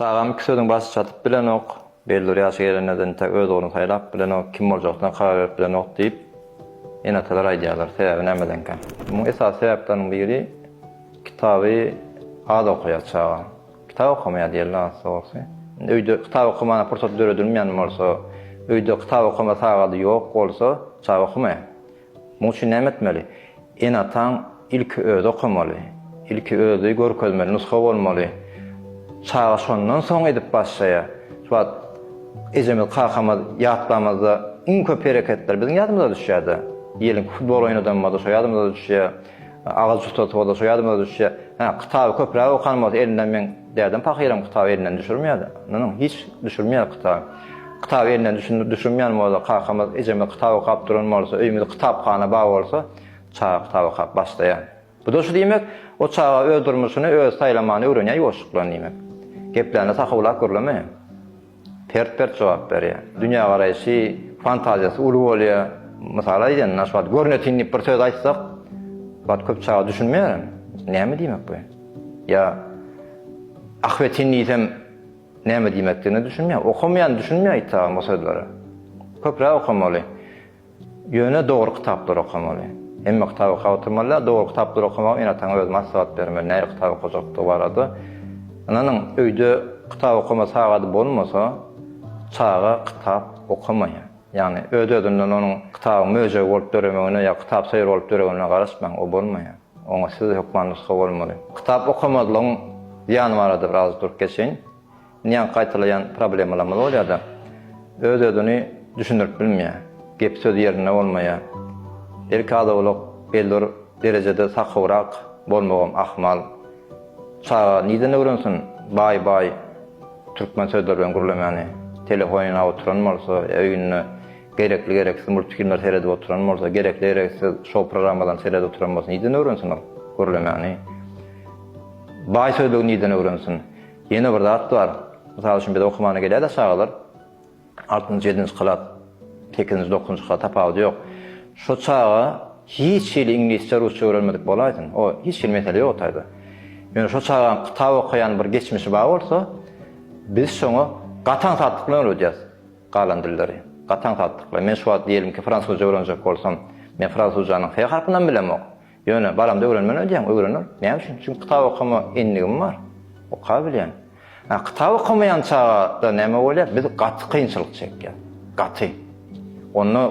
Çagam iki sözüň başy çatyp bilenok, bellur ýaşy gelende-de entek öz ugruny saýlap bilenok, kim boljakdyna karar berip bilenok diýip, ene-atalar aýdýarlar. Sebäbi nämedenkä? Muň esasy sebäpleriniň biri, kitaby az okaýar çaga. Kitap okamaýar diýeli has dogrusy. Indi öýde kitap okamaga pursat döredilmeýän bolsa, öýde kitap okama sagaty ýok bolsa, çaga okamaýar. Muň üçin näme etmeli? Ene-ataň ilki özi okamaly. Ilki özi görkezmeli, nusga bolmaly. Çaga şondan soň edip başlaýar. Şu wagt ejemiz, kakamyz ýatlamazda iň köp hereketler biziň ýadymyza düşýär-de. Diýeliň ki, futbol oýnadamyzda şo ýadymyza düşýär. Agaç ustasy bolsa şu ýadyma düşýär. Hä, kitaby köpräk okan bolsa elinden meň dädem pahyram kitaby elinden düşürmeýärdi. Ynha, hiç düşürmeýär kitaby. Kitaby elinden düşün düşürmeýän bolsa, kakamyz, ejemiz kitap okap duran bolsa, öýümizde kitaphana bar bolsa, çaga kitap okap başlaýar. Bu-da şu diýmek, o çaga öz durmuşyny özi saýlamany öwrenýär ýuwaşjyklann diýmek. Geplerini sahyblap gürlemeýär. Pert-pert jogap berýär. Dünýägaraýşy, fantaziýasy uly bolýar. Mysal aýdýan, şu wagt görnetin diýip bir söz aýtsak, şu wagt köp çaga düşünmeýär. Näme diýmek bu? Ýa ahbetin diýsem, näme diýmekdigine düşünmeýär. Okamaýan düşünmeýär aýtsagan bu sözleri. Köpräk okamaly. Ýöne dogry kitaplary okamaly. Hemme kitaby okap oturmaly däl, dogry kitaplary okamagy ene-ataňa özi maslahat bermeli, nähili kitap okajakdygy barada. Ynanyň, öýde kitap okama sagady bolmasa, çaga kitap okamaýar. Ýagny, öz-özünden onuň kitabyň möjegi bolup döremegine ýa kitap söýer bolup döregine garaşmaň, o bolmaýar. Oňa siz hökman nusga bolmaly. Kitap okamazlygyň zyýany barada biraz durup geçeýin. Njaň gaýtalaýan problemalarymyz bolýar-da, öz-özüni düşündirip bilmeýär. Gep-söz ýerinde bolmaýar. Belki az-owlak bellir derejede sakybyrak bolmagam ahmal. Çaga nirden öwrensin baý-baý türkmen sözleri bilen gürlemäni? Telefon ýanap oturan bolsa ýa öýünde gerekli-gereksiz multfilmleri seredip oturan bolsa, gerekli-gereksiz şou programmalaryny seredip oturan bolsa nirden öwrensin ol gürlemäni? Baý sözlügi nirden öwrensin? Ýene bir zat bar. Mysal üçin biz okumana gelýär-de çagalar. Altynjy, ýedinji klas, sekizinji, dokuzynjy klas tapawudy ýok. Şo çaga hiç hili iňlisçe, rusça öwrenmedik bolaýsyn. O hiç hili mesele ýok o taýda. Ýöne şo çaganyň kitap okaýan bir geçmişi bar bolsa, biz şoňa gatan satlyk bilen öwredýäris galan dilleri. Gatan satlyk bilen. Men şu wagt diýelim ki, fransuzça öwrenjek bolsam, men fransuzjanyň F harpynam bilemok. Ýöne balamda öwrenmeli öýdýän, öwrener. Näme üçin? Çünki kitap okama endigim bar. Okabilýän. Ha, kitap okamaýan çagada näme bolýar? Biz gaty kynçylyk çekýäs. Gaty. Onda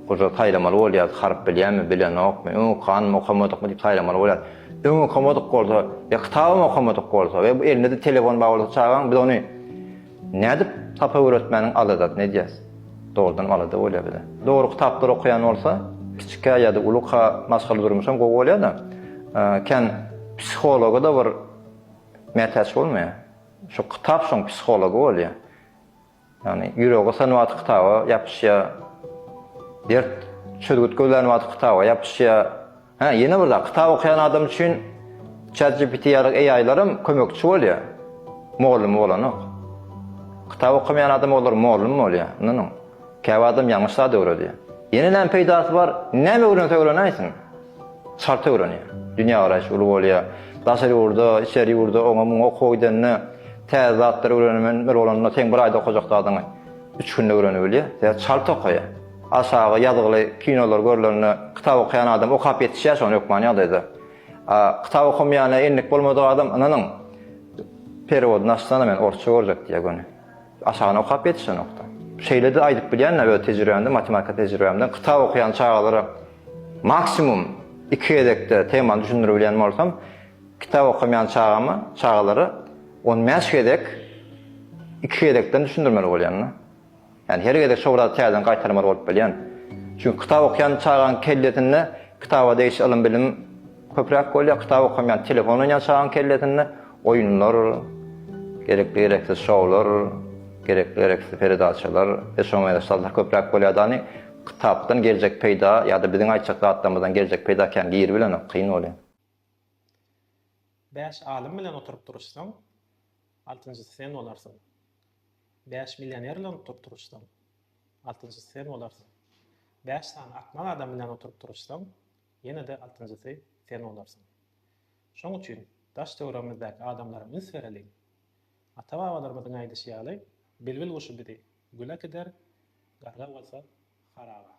oza saýlamaly bolýar, harp bilýärmi, bilenokmy, öň okanmy, okamadykmy diýip saýlamaly bolýar. Öň okamadyk bolsa, ýa kitabam okamadyk bolsa, we bu elinde-de telefon bar bolsa çagaň, biz ony Nädip sapa öwretmäniň aladasyny edýäs? Dogrudanam alada bolýar bize. Dogry kitaplary okaýan bolsa, kiçikä ýa-da uluka maşgala durmuşam gowy bolýar-da, kän psihologa-da bir mätäç bolmaýar. Şu kitap şoň psihology bolýar. Ýagny ýüregi synyp atyp kitaba ýapyşýar, dert çözgüt gözlänip atyp kitaba ýapyşýar. Hä, ýene bir zat, kitap okaýan adam üçin ChatGPT ýaly AI-laram kömekçi bolýar. Mogallymy bolanok. Kitap okamaýan adama olar mugallym bolýar, ynanyň. Käbir adam ýalňyş zat öwredýär. Ýene näme peýdasy bar? Näme öwrense öwrenäýsin. Çalt öwrenýär. Dünýägaraýşy uly bolýar. Daşary ýurda, içeri ýurda, oňa muňa okuwa gidende täze zatlary öwrenemen bir bolanda seň bir aýda okajak zadyňy üç günde öwrenibilýär. Sebäbi çalt okaýar. Aşagy ýazgyly kinolar görlende kitap okaýan adam okap ýetişýär şony hökman ýagdaýda. A kitap okamaýana endik bolmadyk adam ynanyň perewodyny açsana men orsça görjek diýýär göni. Aşagyny okap ýetişenokda. Şeýlede aýdyp bilýän öz tejribämden matematika tejribämden kitap okaýan çagalara maksimum iki gezekde temany düşündirip bilýän bolsam kitap okamaýan çagama çagalara on bäş gezek iki gezekden düşündirmeli bolýan da. Ýani her gezek şo bir zady täzeden gaýtalamaly bolup bilýän. Çünki kitap okýan çagaň kellesinde kitaba degişli ylym-bilim köpräk bolýar, kitap okaýan telefon oýnaýan çagaň kellesinde oýunlar, gerekli-gereksiz şowlar, gerekli-gereksiz peredaçalar we şoňa meňzeş zatlar köpräk bolýar dany, kitapdan geljek peýda ýa-da biziň aýtjak zatlarymyzdan geljek peýda kän giribilenok, kyn bolýar. Bäş alym bilen oturyp duruşsaň, altynjysy sen bolarsyň. Bäş millioner bilen oturyp turuşsaň, altynjysy sen bolarsyň. Bäş sany akmak adam bilen oturyp turuşsaň, ýene-de altynjysy sen bolarsyň. Şoň üçin daş-töweregimizdäki adamlara üns bereliň. Ata-babalarymyzyň aýdyşy ýaly, bilbil guşy bizi gül äkider, garga bolsa, haraba.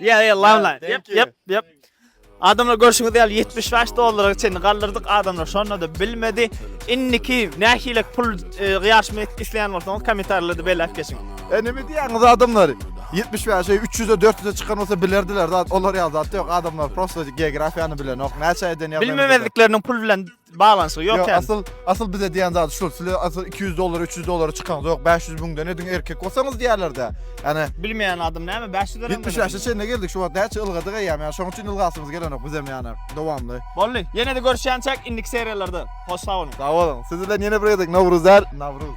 Yeah, yeah, love line. Yep, yep, yep. Adamlar görüşüňiz ýaly 75 dollara çenli galdyrdyk adamlar şonda da bilmedi. Indiki nähilek pul e, ýaşma etmek isleýän bolsaňyz kommentarlarda belläp geçiň. E näme diýýäňiz adamlar? 75-e 300-e 400-e çykan bolsa bilerdiler zat. Olar ýaly zat ýok. Adamlar prosta geografiýany bilenok. Näçe eden ýazan. Bilmemezlikleriniň pul bilen Balansygy ýok ýa. Asyl asyl bize diýen zady şul. Sizle asyl 200 dollara, 300 dollara çykaňyz ýok. 500 müňden ediň erkek bolsaňyz diýerlerde. Ýani Bilmeýän adam näme 500 lira. 70 ýaşa çenli geldik şu wagt näçe ylgadyk eýýäm ýa şoň üçin ylgasyňyz gelenok bizem ýani dowamly. Boldy. Ýenede görüşýänçäk indiki seriýalarda. Hoş sag boluň. Sag boluň. Siz bilen ýene bir gezek Nowruz däl, Nawruz.